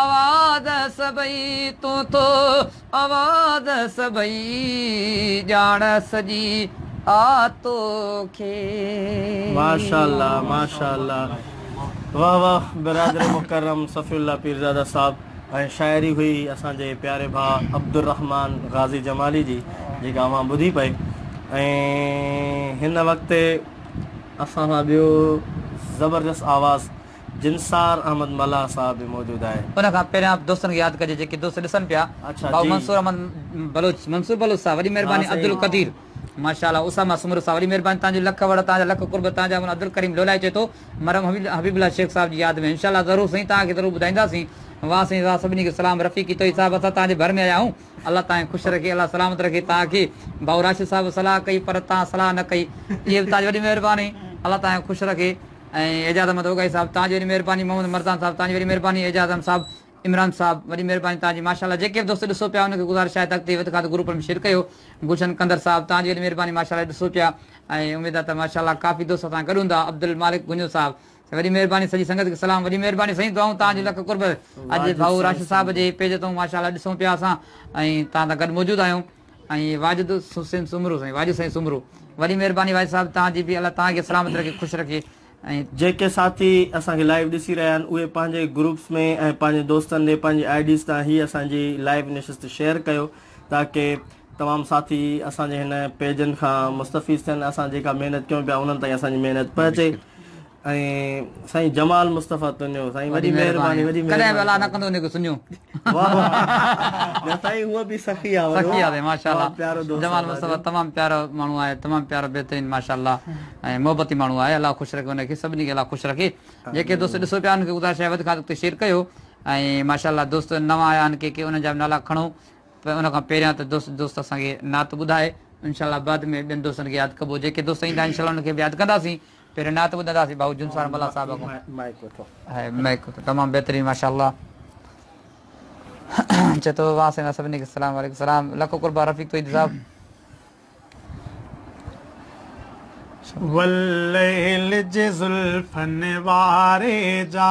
آواز سڀئي تون ٿو آواز سڀئي ڄاڻ سڄي آ توکي. ماشاءالله ماشاءالله واه واه برادر مڪرم صفي الله پيرزاده صاحب ۽ شاعري هئي اسان جي پياري ڀاء عبدالرحمان غازي جمالي جي جيڪا اوهان ٻڌي پئي ۽ هن وقت اسان سان ٻيو زبردست آواز جنسار احمد ملاح صاحب به موجود آهي. ان کان پهريان دوستن کي ياد ڪجي جيڪي دوست ڏسن پيا ڀائو منصور احمد بلوچ منصور بلوچ صاحب وڏي مهرباني عبدالقدير ماشاء الله اسامه سومرو صاحب وڏي مهرباني تنهنجي لک وڙ تنهنجا لک قرب تنهنجا مولا عبدالڪريم لولايي چئي ٿو مرحوم حبيب الله شيخ صاحب جي ياد ۾ انشاء الله ضرور سائين توهان کي ضرور ٻڌائينداسين واھ سائين واھ سڀني کي سلام رفيقي توحيد صاحب اسان توهان جي ڀر ۾ آيا آهيون. الله تانکي خوش رکي الله سلامت رکي تانکي ڀائو راشد صاحب صلاح ڪئي پر تان صلاح نه ڪئي اهي به تانجي وڏي مهرباني الله تانکي خوش رکي ۽ اعجاز احمد اوڳائي صاحب تانجي وڏي مهرباني محمد مرزان صاحب تانجي وڏي مهرباني اعجاز احمد صاحب عمران صاحب وڏي مهرباني تانجي ماشاءالله جيڪي به دوست ڏسو پيا انهن کي گذارش آهي ته اڳتي وڌ کان وڌ گروپن ۾ شيئر ڪيو گلشن قندر صاحب تانجي وڏي مهرباني ماشاءالله ڏسو پيا ۽ اميد آهي ته ماشاءالله ڪافي دوست اسان گڏ هوندا عبدالمالڪ گنجو صاحب وڏي مھرباني سڄي سنگت کي سلام. وڏي مھرباني سائين دعائون تان جون لک قرب اڄ ڀائو راشد صاحب جي پيج تون ماشا الله ڏسون پيا اسان ۽ تان سان گڏ موجود آھيون ۽ واجد حسين سومرو سائين واجد سائين سومرو وڏي مھرباني واجد صاحب تان جي به الله تان کي سلامت رکي خوش رکي ۽ جيڪي ساٿي اسان کي لائيو ڏسي رھيا آھن اھي پنھنجي گروپس ۾ ۽ پنھنجي دوستن ڏي پنھنجي آئي ڊيز تان ھي اسان جي لائيو نشست شيئر ڪيو تاڪي تمام ساٿي اسان جي ھن پيجن کان مستفيض ٿين اسان جيڪا محنت ڪيون پيا انھن تائين اسان جي محنت پھچي. ۽ سائين جمال مصطفي تنيو سائين وڏي مهرباني وڏي مهرباني ڪڏهن به الا نه ڪندو نڪ سنيو واه واه سائين هو به سخي آ سخي آ ماشاءالله پيارو دوست جمال مصطفي تمام پيارو ماڻهو آهي تمام پيارو بهترين ماشاءالله ۽ محبتي ماڻهو آهي الله خوش رکي ان کي سڀني کي الله خوش رکي جيڪي دوست ڏسو پيا ان کي گذارش آهي وڌ کان وڌ تي شيئر ڪيو ۽ ماشاءالله دوست نوان آيا ان کي ڪي ان جا نالا کڻو پر ان کان پهريان ته دوست دوست اسان کي نعت ٻڌائي انشاء الله بعد ۾ ٻين دوستن کي ياد ڪبو جيڪي دوست ايندا انشاء الله انهن کي به ياد ڪنداسين پهريان نعت ٻڌنداسين ڀائو جنسار ملاح صاحب کان مائيڪ وٺو هي مائيڪ وٺو تمام بهترين ماشاء الله چي ٿو واه سائين واه سڀني کي سلام عليڪم سلام لکو قربان رفيق توحيد صاحب والليل جي زلفن واري جا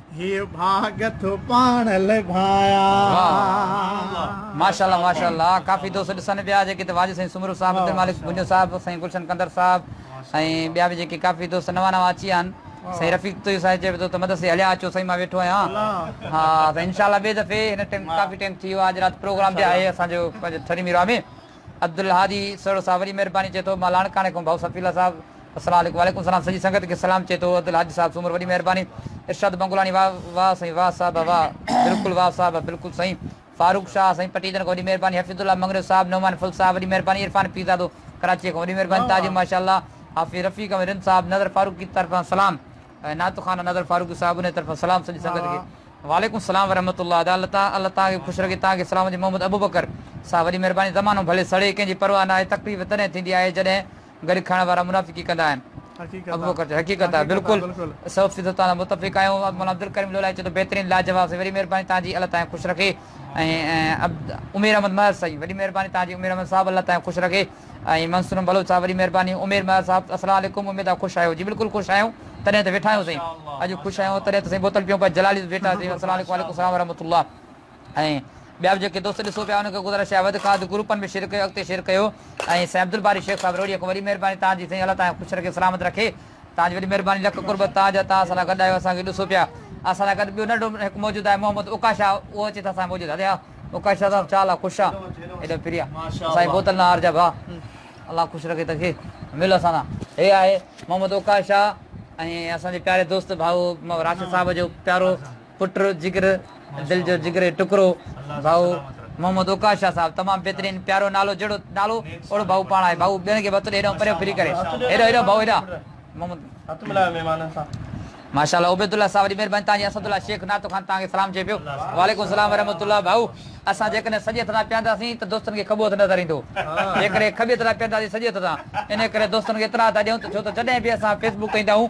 هي ڀاڳ ٿو پاڻ لڀايا. واه ماشاءالله ماشاءالله ڪافي دوست ڏسن پيا جيڪي ته واجد سائين سومرو صاحب عبدالمالڪ ڀونڄو صاحب سائين گلشن ڪنڌر صاحب ۽ ٻيا به جيڪي ڪافي دوست نوان نوان اچي ويا آهن سائين رفيق توهي صاحب چئي پئي ٿو ته مدرسي هليا اچو سائين مان ويٺو آهيان ها ته انشاءالله ٻي دفعي هن ٽيم ڪافي ٽيم ٿي ويو آهي اڄ رات پروگرام به آهي اسان جو پنهنجو ٿري ميرواهه ۾ عبدالهادي سهڻو صاحب وري مهرباني چئي ٿو مان لاڙڪاڻي کان ڀائو صفي الله صاحب السلام عليڪم وعليڪم السلام سڄي سنگت کي سلام چئي ٿو عبدالهادي صاحب سومر وري مهرباني ارشاد بنگلاڻي واھ واھ سائين واھ صاحب واھ بلڪل واھ صاحب بلڪل سائين فاروق شاھ سائين پٽيدڙ کان وڏي مهرباني حفيظ الله مڱريو صاحب نعمان ڦل صاحب وڏي مهرباني عرفان پيرزادو ڪراچيء کان وڏي مهرباني تاجر ماشاء الله حافظ رفيق احمد رند صاحب نظر فاروقي طرفان سلام ۽ نعت خوان نظر فاروقي صاحب انهيء طرفان سلام سڄي سنگت کي وعليڪم السلام ورحمة الله ادا الله تعا الله توهان کي خوش رکي توهان کي سلام هجي محمد ابوبڪر صاحب وڏي مهرباني زمانو ڀلي سڙي ڪنهن جي پرواهه ناهي تڪليف تڏهن ٿيندي آهي جڏهن گڏ کائڻ وارا منافقي ڪندا آهن ابوبڪر چيو حقيقت آهي بلڪل سؤ فيصد توهان سان متفق آهيون مولانا عبدالڪريم لولاڻي چيو ته بهترين لاجواب سائين وڏي مهرباني توهان جي الله توهان کي خوش رکي ۽ عبد عمير احمد مهر سائين وڏي مهرباني توهان جي عمير احمد صاحب الله توهان کي خوش رکي. ۽ منصور بلوچ صاحب وڏي مهرباني عمير مهر صاحب السلام عليڪم اميد آ خوش آهيو جي بلڪل خوش آهيون تڏهن ته ويٺا آهيون سائين اڄ خوش آهيون تڏهن ته سائين بوتل پيئون پيا جلالي به ويٺا سائين السلام عليڪم وعليڪم السلام ورحمة الله ۽ ٻيا به جيڪي دوست ڏسو پيا انهن کي گذارش آهي وڌ کان وڌ گروپن ۾ شيئر ڪيو اڳتي شيئر ڪيو ۽ سائين عبدالباري شيخ صاحب روهڙي کان وڏي مهرباني توهان جي سائين الله توهان کي خوش رکي سلامت رکي. تاج وڏي مھرباني لک قربت توھان جا توھان اسان سان گڏ آھيو اسان کي ڏسو پيا اسان سان گڏ ٻيو ننڍو ھڪ موجود آھي محمد اوکا شاھ اھو اچي ته اسان سان موجود ھلي ھا اوکا شاھ صاحب چال آ خوش آ ايڏو پريا اسان جي بوتل ناھار جا ڀاء الله خوش رکي تنھن کي مل اسان سان. ھي آھي محمد اوکا شاھ ۽ اسان جي پياري دوست ڀائو راشد صاحب جو پيارو پٽ جگر دل جو جگري ٽڪرو ڀائو محمد اوقاش شاھ صاحب تمام بھترين پيارو نالو جھڙو نالو اوڙو ڀائو پاڻ آھي ڀائو ٻين کي وتو ڏي ھيڏانھون پريو ڦري ڪري ھيڏو ھيڏو ڀائو ھيڏا محمد ھٿ ملايو مھمانن سان. ماشاء الله عبيد الله صاحب وڏي مھرباني توھان جي اسد الله شيخ نعت خوان توھان کي سلام چئي پيو وعليڪم السلام ورحمة الله ڀائو اسان جيڪڏھن سڄي ھٿ سان پيھنداسين ته دوستن کي کٻو ھٿ نظر ايندو جيڪڏھن کٻي ھٿ سان پيھنداسين سڄي ھٿ سان انھي ڪري دوستن کي اطلاع ٿا ڏيون ته ڇو ته جڏھن به اسان فيس بڪ ڪندا آھيون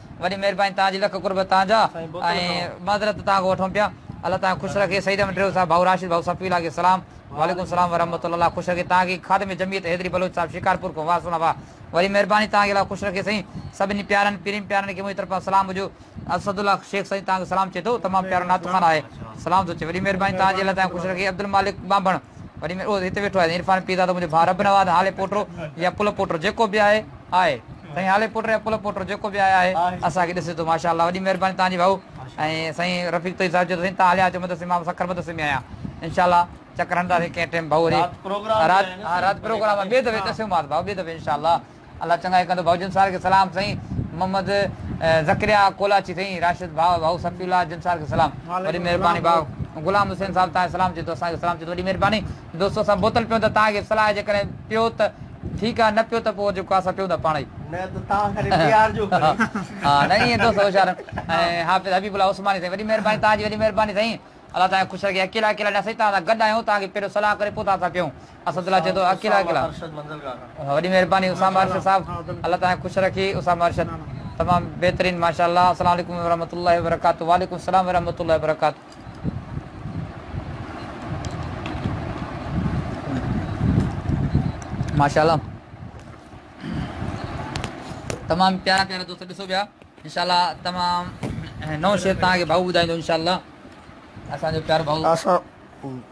وڏي مھرباني توھان جي لک قرب توھان جا ۽ معذرت توھان کان وٺون پيا الله توھان کي خوش رکي سعيد احمد ڊريو صاحب ڀائو راشد ڀائو صفي الله کي سلام وعليڪم سلام ورحمة الله خوش رکي توھان کي خادم جمعيت حيدري بلوچ صاحب شڪارپور کان واه سھڻا واه وڏي مھرباني توھان کي الله خوش رکي سائين سڀني پيارن پيرين پيارن کي منھنجي طرفان سلام ھجو اسد الله شيخ سائين توھان کي سلام چئي ٿو تمام پيارو نعت خوان آھي سلام ٿو چئي وڏي مھرباني توھان جي الله توھان کي خوش رکي عبدالمالڪ ٻانڀڻ. وڏي ۾ اهو هتي ويٺو آهي عرفان پير دادا منهنجو ڀاء رب نواز هالي پوٽو يا پل پوٽو جيڪو به آهي آهي سائين هالي پوٽو يا پل پوٽو جيڪو به آهي آهي اسان کي ڏسي ٿو ماشا الله وڏي مهرباني تهان جي ڀائو ۽ سائين رفيق طيب صاحب چيو ته سائين تهان هليا اچو مدرسي مان سکر مدرسي ۾ آهيان انشاء الله چڪر هڻنداسين ڪنهن ٽيم ڀائو وري رات پروگرام ها رات پروگرام ٻئي دفعي ڏسيوماس ڀائو ٻئي دفعي انشاء الله الله چڱائي ڪندو. ڀائو جنسار کي سلام سائين محمد ذڪريا ڪولاچي سائين راشد ڀاء ڀائو صفي الله جنسار کي سلام وڏي مھرباني ڀاء غلام حسين صاحب تان کي سلام چئجو اسان کي سلام چئجو وڏي مھرباني دوستو اسان بوتل پيون ٿا تان کي صلاح جيڪڏھن پيو ته ٺيڪ آ نه پيو ته پوء جيڪو آ اسان پيون ٿا پاڻ ئي نه ته تان ڪري پيارجو ڪري ھا نه ائين دوست ھوشيار ۽ حافظ حبيب الله عثماني سائين وڏي مھرباني تان جي وڏي مھرباني سائين الله تان کي خوش رکي اڪيلا اڪيلا نه سائين تان سان گڏ آھيون تان کي پھريون صلاح ڪري پوء تان سان پيون. اسد الله چئي ٿو اڪيلا اڪيلا وڏي مھرباني اسامه ارشد صاحب الله تعالي خوش رکي اسامه ارشد تمام بهترين ماشاءالله السلام عليڪم ورحمة الله وبرڪاته وعليڪم السلام ورحمة الله وبرڪاته. ماشاءالله تمام پيارا پيارا دوست ڏسو پيا انشاءالله تمام نئون شعر تهان کي ڀائو ٻڌائيندو انشاءالله اسان جو پيارو ڀائو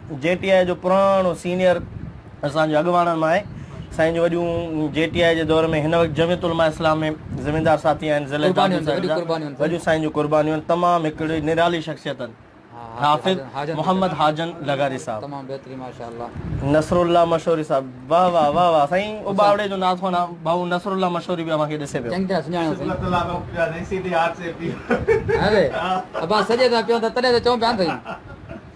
جي ٽي آء جو پراڻو سينيئر اسان جو اڳواڻن مان آهي سائين جو وڏيون جي ٽي آء جي دور ۾ هن وقت جميعت علماء اسلام ۾ ذميدار ساٿي آهن ضلعي دادو سائين جا وڏيون سائين جون قربانيون تمام هڪڙي نرالي شخصيت آهن حافظ محمد حاجن لغاري صاحب تمام بهترين ماشاءالله نصر الله مشوري صاحب واہ واہ واہ واہ سائين اباوڙي جو ناز خوان بھو نصر الله مشوري به اوهان کي ڏسي پيو چنگا سڃاڻو سائين شڪر الله لوڪ پيا سائين سيدي هاٿ سي پيو اري ابا سڄي ته پيو ته تڏهن ته چون پيا سائين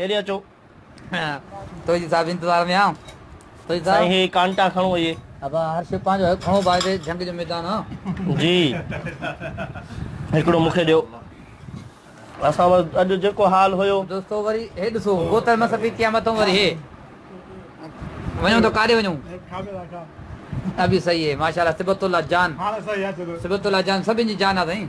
هيڏي اچو. توجي صاحب انتظار ۾ آهيان. توجي صاحب. سائين هي ڪانٽا کڻو اهي. ابا هر شي پنهنجو حق کڻو ڀاء هي جنگ جو ميدان آ. جي هڪڙو مون کي ڏيو. اسان وٽ اڄ جيڪو حال هيو. دوستو وري هي ڏسو بوتل مان سفيد ٿيا مٿو وري هي. وڃون ته ڪاڏي وڃون. ابي صحيح هي ماشاء الله صبغت الله جان. صبغت الله جان سڀن جي جان آ سائين.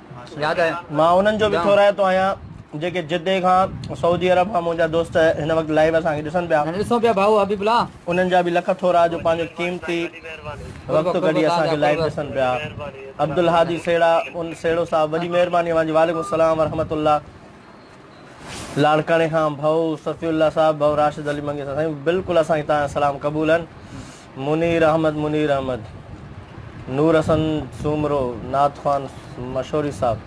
مان انهن جو به ٿورائتو آهيان جيڪي جدي کان سعودي عرب کان منهنجا دوست هن وقت لائيو اسان کي ڏسن پيا انهن جا به لک ٿورا جو پنهنجو قيمتي وقت ڪڍي اسان کي لائيو ڏسن پيا عبدالهادي سهيڙا سهيڙو صاحب وڏي مهرباني اوهان جي وعليڪم السلام ورحمة الله لاڙڪاڻي کان ڀائو صفي الله صاحب ڀائو راشد علي منگي سائين بلڪل اسان کي توهان جا سلام قبول آهن منير احمد منير احمد نور حسن سومرو نعت خوان مشوري صاحب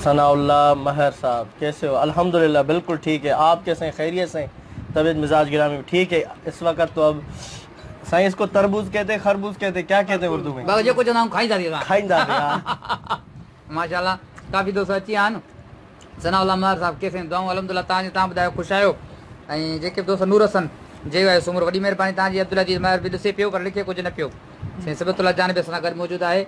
ثناء الله مهر صاحب کيسي هو الحمدلله بلڪل ٺيڪ هي آپ کي سائين خيريت سائين طبيعت مزاج گرامي به ٺيڪ هي اس وقت تو اب سائين اس کو تربوز کيتي خربوز کيتي کيا کيتي اردو ۾ ڀائو جيڪو چوندا آهيون کائيندا رهيو کائيندا رهيو ماشاءالله ڪافي دوست اچي ويا آهن ثناء الله ميار صاحب ڪيسين جي دعائون الحمدلله تان جي تان ٻڌايو خوش آهيو ۽ جيڪي به دوست نور حسن جي يو آهي سومرو وڏي مهرباني تان جي عبدالعزيز ميار به ڏسي پيو پر لکي ڪجهه نه پيو سائين صبغت الله جان به اسان سان گڏ موجود آهي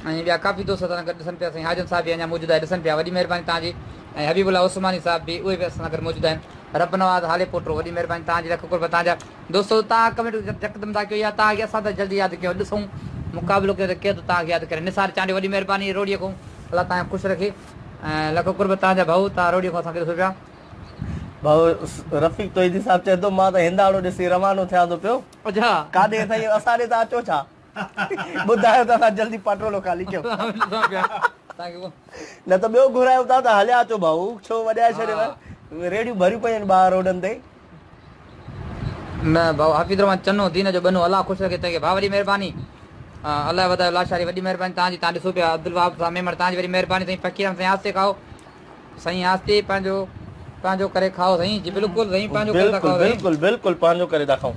۽ ٻيا ڪافي دوست اسان سان گڏ ڏسن پيا سائين حاجن صاحب به اڃا موجود آهي ڏسن پيا وڏي مهرباني تان جي ۽ حبيب الله عثماني صاحب به اهي به اسان سان گڏ موجود آهن رب نواز هالي پوٽو وڏي مهرباني تان جي لک قرب تان جا دوستو تان ڪمينٽ يڪدم ٿا ڪيو يا تان کي اسان ته جلدي ياد ڪيو ڏسون مقابلو ڪيو ته ڪير ٿو تان کي ياد ڪري نثار چانڊيو وڏي مهرباني روھڙيء کون الله تان کي خوش رکي ۽ لک قرب تان جا ڀائو تان روھڙيء کون اسان کي ڏسو پيا. ڀائو رفيق توحيدي صاحب چئي ٿو مان ته ھنداڻو ڏسي روانو ٿيان ٿو پيو اجھا ڪاڏي سائين اسان ڏي ٿا اچو ڇا. ٻڌايو ته اسان جلدي پاٽرولو خالي ڪيون. نه ته ٻيو گهرايو ٿا ته هليا اچو ڀائو ڇو وڄائي ڇڏيو ريڙهيون ڀريون پيون آهن ٻاهر روڊن تي. نه ڀائو حفيظ الرحمان چنو دين جو ٻنو الله خوش رکي توکي ڀاء وڏي مهرباني الله وڌايو لاشاري وڏي مهرباني توهان جي توهان ڏسو پيا عبدالوهاب صاحب ميمڻ توهان جي وڏي مهرباني سائين فقير احمد سائين آستي کائو سائين آستي پنهنجو پنهنجو ڪري کائو سائين جي بلڪل سائين پنهنجو ڪري ٿا کائو بلڪل بلڪل پنهنجو ڪري ٿا کائون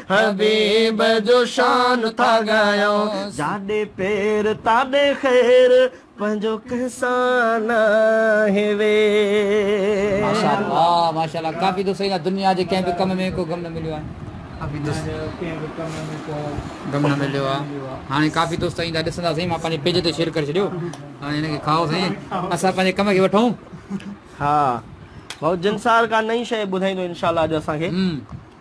حبيب جو شان ٿا ڳايون. جاڏي پير تاڏي خير پنهنجو ڪنهن سان ناهي وير. ماشاء الله ماشاء الله ڪافي دوست سائين جا دنيا جي ڪنهن به ڪم ۾ ڪو غم نه مليو آهي ڪافي دوست دنيا جي ڪنهن به ڪم ۾ ڪو غم نه مليو آهي هاڻي ڪافي دوست سائين جا ڏسندا سائين مان پنهنجي پيج تي شيئر ڪري ڇڏيو هاڻي هن کي کائو سائين اسان پنهنجي ڪم کي وٺون. ها ڀائو جنسار ڪا نئي شيء ٻڌائيندو انشاء الله اڄ اسان کي.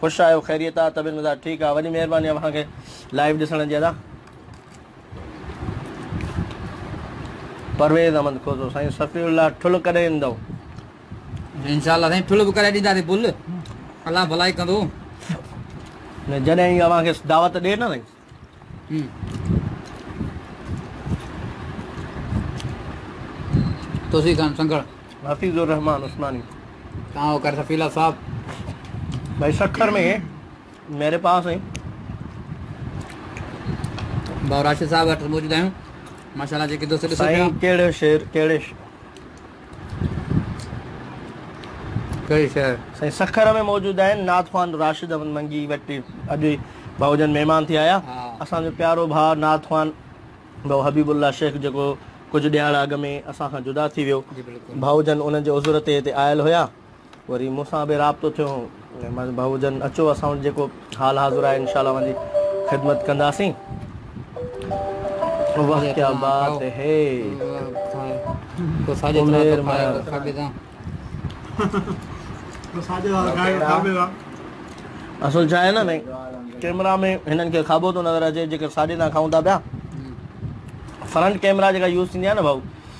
خوش آهيو خيريت آ طبيعت مزاج ٺيڪ آ وڏي مهرباني اوهان کي لائيو ڏسڻ جي ادا پرويز احمد کوسو سائين صفي الله ٺل ڪڏهن ايندو انشاءالله سائين ٺل به ڪرائي ڏينداسي بل الله ڀلائي ڪندو جڏهن اوهان کي دعوت ڏي نه سائين توسي خان سنگهڙ. حفيظ الرحمان عثماني. تان هو ڪر سفيلا صاحب. ڀائي سکر ۾ ميري پاس ۽. ڀائو راشد صاحب اٺ موجود آهيون ماشاءالله جيڪي دوست ڏسو پيا. سائين ڪهڙو شعر ڪهڙي. ڪهي شهر؟ سائين سکر ۾ موجود آهن نعت خوان راشد احمد منگي وٽ اڄ ئي ڀائو جن مهمان ٿي آيا اسان جو پيارو ڀاء نعت خوان ڀائو حبيب الله شيخ جيڪو ڪجهه ڏهاڙا اڳ ۾ اسان کان جدا ٿي ويو ڀائو جن انهن جي عذر تي هتي آيل هيا. وري مون سان به رابطو ٿيو ۽ مانس ڀائو جن اچو اسان وٽ جيڪو حال حاضر آهي انشاء الله اوهانجي خدمت ڪنداسين واه ڪيا بات هي عمير مهر اصل ڇا آهي نه بھي ڪيمرا ۾ هنن کي کابو ٿو نظر اچي جيڪر ساڄي تان کائون ٿا پيا فرنٽ ڪيمرا جيڪا يوز ٿيندي آهي نه بھائو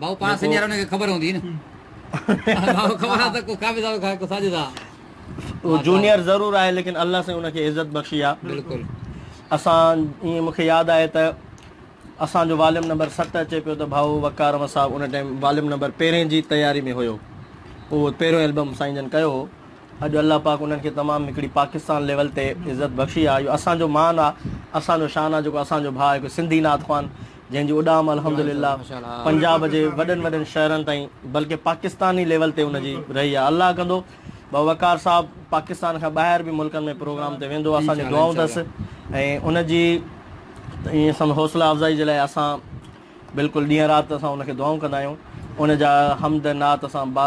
ڀائو پاڻ سنيارا انهن کي خبر هوندي نه ڀائو خبر آ ته ڪو قابض آ ڪو ساجد آ اهو جونيئر ضرور آهي ليڪن الله سائين ان کي عزت بخشي آ بلڪل اسان ائين مونکي ياد آهي ته اسان جو واليوم نمبر ست اچي پيو ته ڀائو وقار احمد صاحب ان ٽائيم واليوم نمبر پهرين جي تياري ۾ هيو اهو پهريون البم سائين جن ڪيو هو اڄ الله پاڪ انهن کي تمام هڪڙي پاڪستان ليول تي عزت بخشي آ اهو اسان جو مان آ اسان جو شان آ جيڪو اسان جو ڀاء هڪ سنڌي نعت خوان جنهن جي اڏام الحمد لله پنجاب جي وڏن وڏن شهرن تائين بلڪه پاڪستاني ليول تي ان جي رهي آهي الله ڪندو ڀا وقار صاحب پاڪستان کان ٻاهر به ملڪن ۾ پروگرام تي ويندو اسان جون دعائون اٿس ۽ ان جي ائين سمجهه حوصله افزائي جي لاء اسان بلڪل ڏينهن رات اسان ان کي دعائون ڪندا آهيون ان جا حمد نعت اسان با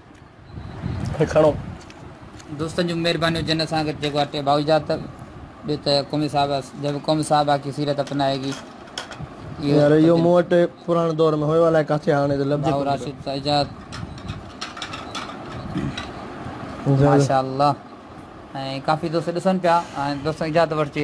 هي کڻو. دوستن جون مهربانيون جن اسان کي جيڪو اٽي ڀائو اجازت ته ڏي ته قومي صاحب جب قوم صاحبه ڪي سيرت اپنائي گي يار اهو مون وٽ پراڻي دور ۾ هيو الائي ڪاٿي هاڻي ته لفظ ڀائو راشد سان اجازت ماشاء الله ۽ ڪافي دوست ڏسن پيا ۽ دوستن اجازت وٺجي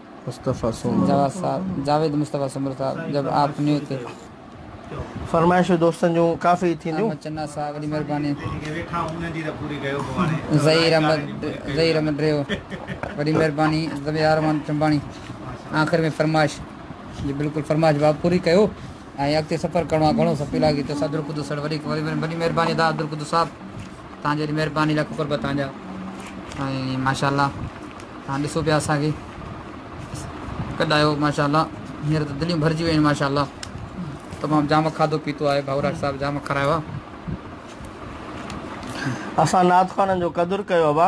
مصطفيٰ سومرو. جواز صاحب، جاويد مصطفيٰ سومرو صاحب، جب آپ نيو تھي. فرمائشون دوستن جون ڪافي ٿينديون. احمد چنا صاحب وڏي مھرباني. ظھير احمد ظھير احمد ڊريو وڏي مھرباني. ظھير احمد ٽنباڻي آخر ۾ فرمائش جي بلڪل فرمائش جواب پوري ڪيو. ۽ اڳتي سفر ڪرڻو آ گهڻو سپي لاڳي ٿيو صدر قدس سر وڏي وڏي وڏي مهرباني ادا عبد القدس صاحب تان جي مهرباني لک قرب تان جا ۽ ماشاءالله تان ڏسو پيا اسان کي ڪڏايو ماشاءالله هينئر ته دليون ڀرجي ويون ماشاءالله تمام جام کاڌو پيتو آهي ڀاوراج صاحب جام کرايو آ اسان نعت خوانن جو قدر ڪيو ابا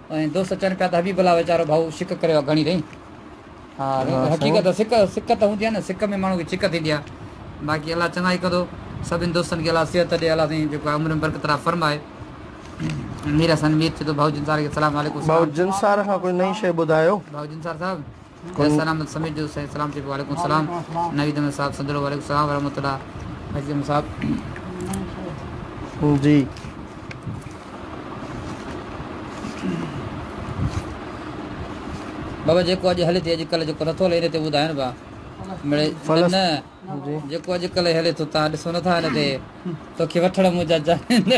۽ دوست چون پيا ته حبيب الله ويچارو ڀائو سڪ ڪريو آهي گهڻي تائين؟ ها ريت ها سائين حقيقت آهي سڪ سڪ ته هوندي آهي نه سڪ ۾ ماڻهو کي ڇڪ ٿيندي آهي باقي الله چڱائي ڪندو سڀني دوستن کي الله صحت ڏي الله سائين جيڪو آهي عمر ۾ برڪت عطا فرمائي مير حسن مير چي ٿو ڀائو جنسار کي سلام عليڪم سلام بھوجنسار کان ڪوئي نئين شيء ٻڌايو. ڀائو جنسار صاحب جي اسان احمد سميت جو صحيح سلام ٿي پيو وعليڪم السلام نويد احمد صاحب سنڌڙو وعليڪم السلام ورحمة الله فيض احمد صاحب جي بابا جيڪو اڄ هلي ٿي اڄ ڪلهه جيڪو نٿو هلي ان تي ٻڌاين با مڙي نه جيڪو اڄ ڪلهه هلي ٿو تان ڏسو نٿا ان تي توکي وٺڻ منهنجا جانين نه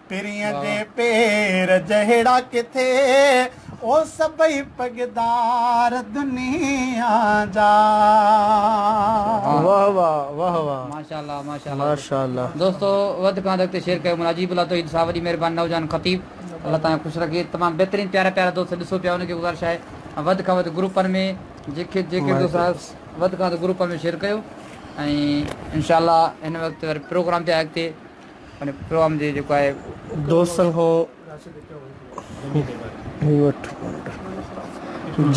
پرينء جي پير جهڙا ڪٿي، او سڀئي پڳدار دنيا جا. واھ واھ واھ واھ ماشاءالله ماشاءالله دوستو وڌ کان وڌ اڳتي شيئر ڪيو مولانا عجيب الله توحيد صاحب وڏي مھرباني نوجوان خطيب الله تعالي خوش رکي تمام بهترين پيارا پيارا دوست ڏسو پيا انهن کي گذارش آهي وڌ کان وڌ گروپن ۾ جيڪي جيڪي دوست آهيو وڌ کان وڌ گروپن ۾ شيئر ڪيو ۽ انشاء الله هن وقت وري پروگرام به آهي اڳتي پروم جي جيڪو آهي دوستن کان هي وٺ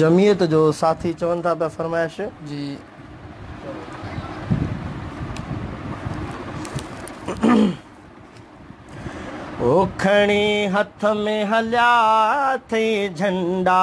جمعيت جو ساٿي چون ٿا پيا فرمائش جي هو کڻي هٿ ۾ هليا اٿئي جهنڊا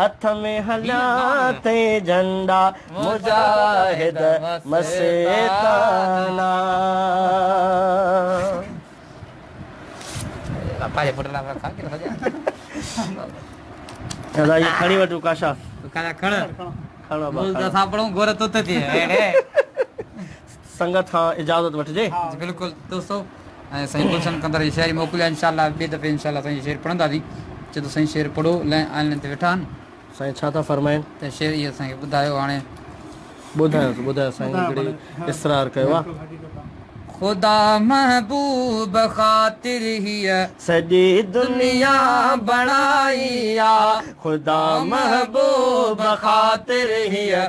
هٿ ۾ هنيا تي جهنڊا مجاهد مستانه سنگت کان اجازت وٺجي. جي بلڪل دوستو ۽ سائين گلشن ڪنڌر جي شاعري موڪلي آ انشاء الله ٻي دفعي انشاء الله سائين جي شعر پڙهنداسين چي ته سائين شعر پڙهو لئن آئن لئن تي ويٺا آهن. سائين ڇا ٿا فرمائين. ته شعر اهي اسان کي ٻڌايو هاڻي. ٻڌايوس ٻڌايوس سائين هڪڙي اسرار ڪيو آ. خدا محبوب خاطر هيء سڄي دنيا بڻائي آ. خدا محبوب خاطر هيء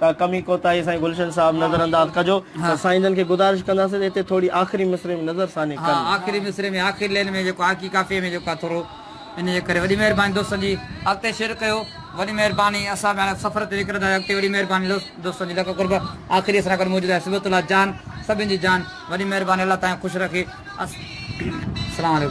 ڪا ڪمي ڪوتاهي سائين گلشن صاحب نظر انداز ڪجو ته سائين جن کي گذارش ڪنداسين ته اتي ٿوري آخري مصرعي ۾ نظر ثاني ڪن. ها آخري مصرعي ۾ آخري لين ۾ جيڪو آقي ڪافيء ۾ جيڪو آهي ٿورو ان جي ڪري وڏي مهرباني دوستن جي اڳتي شيئر ڪيو وڏي مهرباني اسان به هاڻي سفر تي نڪرندا آهيون اڳتي وڏي مهرباني دوست دوستن جي لک قرب آخري اسان گڏ موجود آهي صبغت الله جان سڀن جي جان وڏي مهرباني الله تهان کي خوش رکي السلام عليڪم.